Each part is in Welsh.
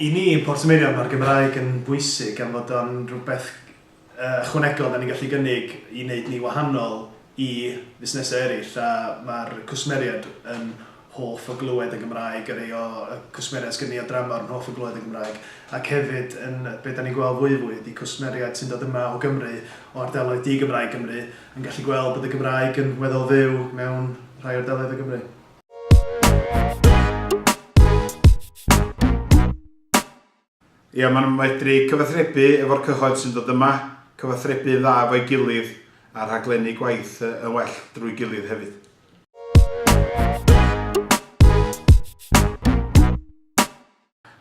I ni yn Portmeirion mae'r Gymraeg yn bwysig am fod o'n rhywbeth ychwanegol dan ni'n gallu gynnig i wneud ni wahanol i fusnesau eraill a mae'r cwsmeriaid yn hoff o glywed yn Gymraeg a rhai o y cwsmeriaid sgen ni o dramor yn hoff o glywed yn Gymraeg ac hefyd yn be dan ni'n gweld fwyfwy ydi cwsmeriaid sy'n dod yma o Gymru o ardaloedd di-Gymraeg Gymru yn gallu gweld bod y Gymraeg yn weddol fyw mewn rhai ardaloedd o Gymru. Ia, maen nhw'n medru cyfathrebu efo'r cyhoedd sy'n dod yma, cyfathrebu dda efo'i gilydd a rhaglennu gwaith yn well drwy gilydd hefyd.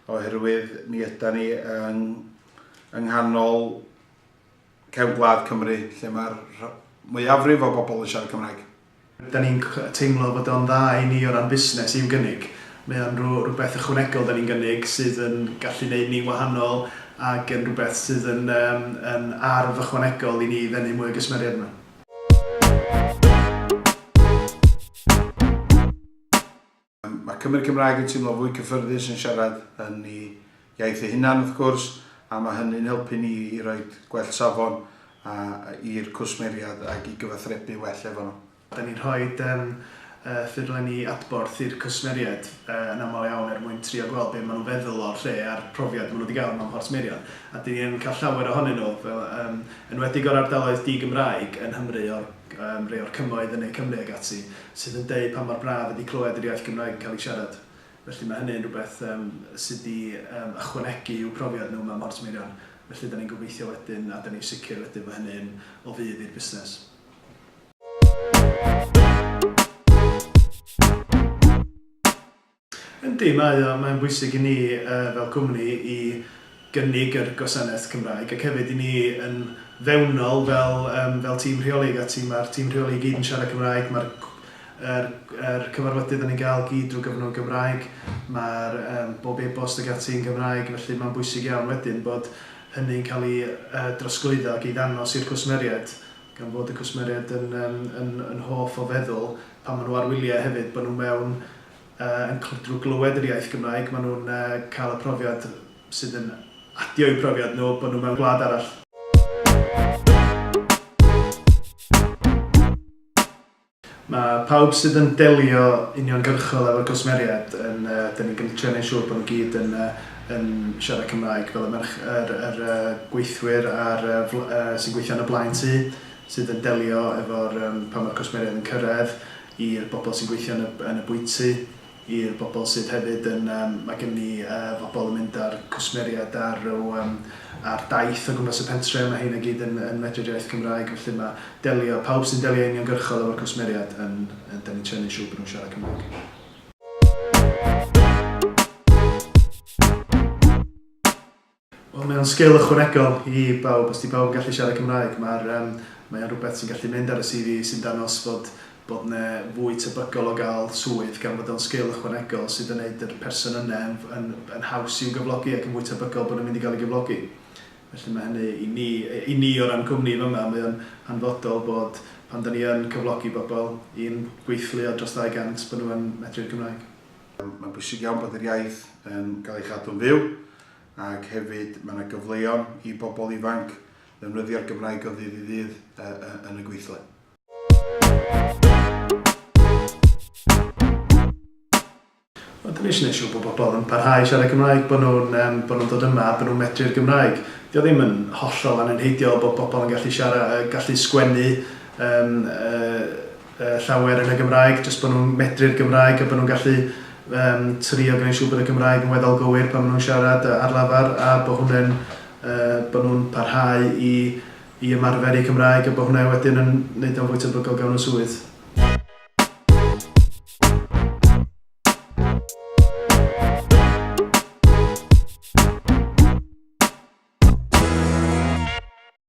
oherwydd mi ydan ni yng yng nghanol cefn gwlad Cymru lle mae'r mwyafrif o bobl yn siarad Cymraeg. Da ni'n teimlo fod o'n dda i ni o ran busnes i'w gynnig. Mae o'n rhywbeth ychwanegol da ni'n gynnig sydd yn gallu neud ni'n wahanol ac yn rhywbeth sydd yn yym yn arf ychwanegol i ni ddenu mwy o gwsmeriaid yma. Mae Cymry Cymraeg yn teimlo fwy cyffyrddus yn siarad yn eu iaith eu hunan wrth gwrs, a mae hynny'n helpu ni i roi gwell safon i'r cwsmeriad ac i gyfathrebu well efo nhw. Da ni'n rhoi ffurflenni adborth i'r cwsmeriaid yn aml iawn er mwyn trio gweld be maen nhw'n feddwl o'r lle a'r profiad maen nhw wedi gael mewn Porth Meirion. A dan ni yn cael llawer ohonyn nhw, fel yn enwedig o'r ardaloedd di-Gymraeg yn Nghymru, rhai o'r cymoedd yn Ne Cymru ac ati, sydd yn deud pa mor braf ydi clywed yr iaith Gymraeg yn cael ei siarad. Felly mae hynny yn rhywbeth yym sy' 'di yym ychwanegu i'w profiad nhw mewn Mhorth Meirion. Felly 'dan ni'n gobeithio wedyn, a 'dan ni'n sicr wedyn fo' hynny yn o fudd i'r busnes. Yndi, mae o. Mae'n bwysig i ni fel cwmni i gynnig yr gwasanaeth Cymraeg ac hefyd i ni yn fewnol fel fel tîm rheoli ag ati, mae'r tîm rheoli i gyd yn siarad Cymraeg, mae'r yr yr cyfarfodydd dan ni'n gael gyd drwy gyfrwng y Gymraeg, mae'r yym bob e-bost ag ati yn Gymraeg, felly mae'n bwysig iawn wedyn bod hynny'n cael ei yy drosglwyddo ac ei ddangos i'r cwsmeriaid gan fod y cwsmeriaid yn yym yn yn hoff o feddwl pan maen nhw ar wyliau hefyd bod nhw mewn yn clydru glywed yr iaith Gymraeg, maen nhw'n cael y profiad sydd yn adio i'w profiad nhw bod nhw mewn gwlad arall. Mae pawb sydd yn delio uniongyrchol efo cwsmeriaid yn, dan ni'n gymryd trio neud siŵr bod nhw gyd yn yn siarad Cymraeg, fel y merch- yr yr gweithwyr a'r sy'n gweithio yn y blaen tŷ sydd yn delio efo'r yym pan mae'r cwsmeriaid yn cyrraedd, i'r bobl sy'n gweithio yn y yn y bwyty, i'r bobl sydd hefyd yn yym ma' gynnon ni yy bobl yn mynd â'r cwsmeriaid ar ryw yym ar daith o gwmpas y pentre, ma' rheina i gyd yn yn medru'r iaith Gymraeg felly ma' delio pawb sy'n delio uniongyrchol efo'r cwsmeriaid yn yy 'dan ni'n trio neud siŵr bo' nhw'n siarad Cymraeg. Wel mae o'n sgil ychwanegol i bawb, os 'di pawb yn gallu siarad Cymraeg mae'r yym mae o'n rhywbeth sy'n gallu mynd ar y CV sy'n dangos fod bod 'ne fwy tebygol o gael swydd gan fod o'n sgil ychwanegol sydd yn neud yr person yne yn yn yn haws i'w gyflogi ac yn fwy tebygol bod yn mynd i gael ei gyflogi. Felly mae hynny i ni yy i ni o ran cwmni fama mae o'n hanfodol bod pan 'da ni yn cyflogi bobl i'n gweithlu o dros 200 bod nhw yn medru'r Gymraeg. Mae'n bwysig iawn bod yr iaith yn gael ei chadw'n fyw. ac hefyd mae 'na gyfleon i bobl ifanc ddefnyddio'r Gymraeg o ddydd i ddydd yn y gweithle. Wel, dyn ni eisiau gwneud siŵr bod bobl yn parhau i siarad Cymraeg, bod nhw'n um, bod nhw'n dod yma a bod nhw'n medru'r Gymraeg. Dio ddim yn hollol anenheidiol bod bobl yn gallu siarad, gallu sgwennu um, uh, llawer yn y Gymraeg, jyst bod nhw'n medru'r Gymraeg a bod nhw'n gallu um, trio gwneud siŵr bod y Gymraeg yn weddol gywir pan maen nhw'n siarad ar lafar a bod hwnna'n uh, bod nhw'n parhau i, i ymarfer eu Cymraeg a bod hwnna wedyn yn gwneud o'n fwy tebygol gawn nhw swydd.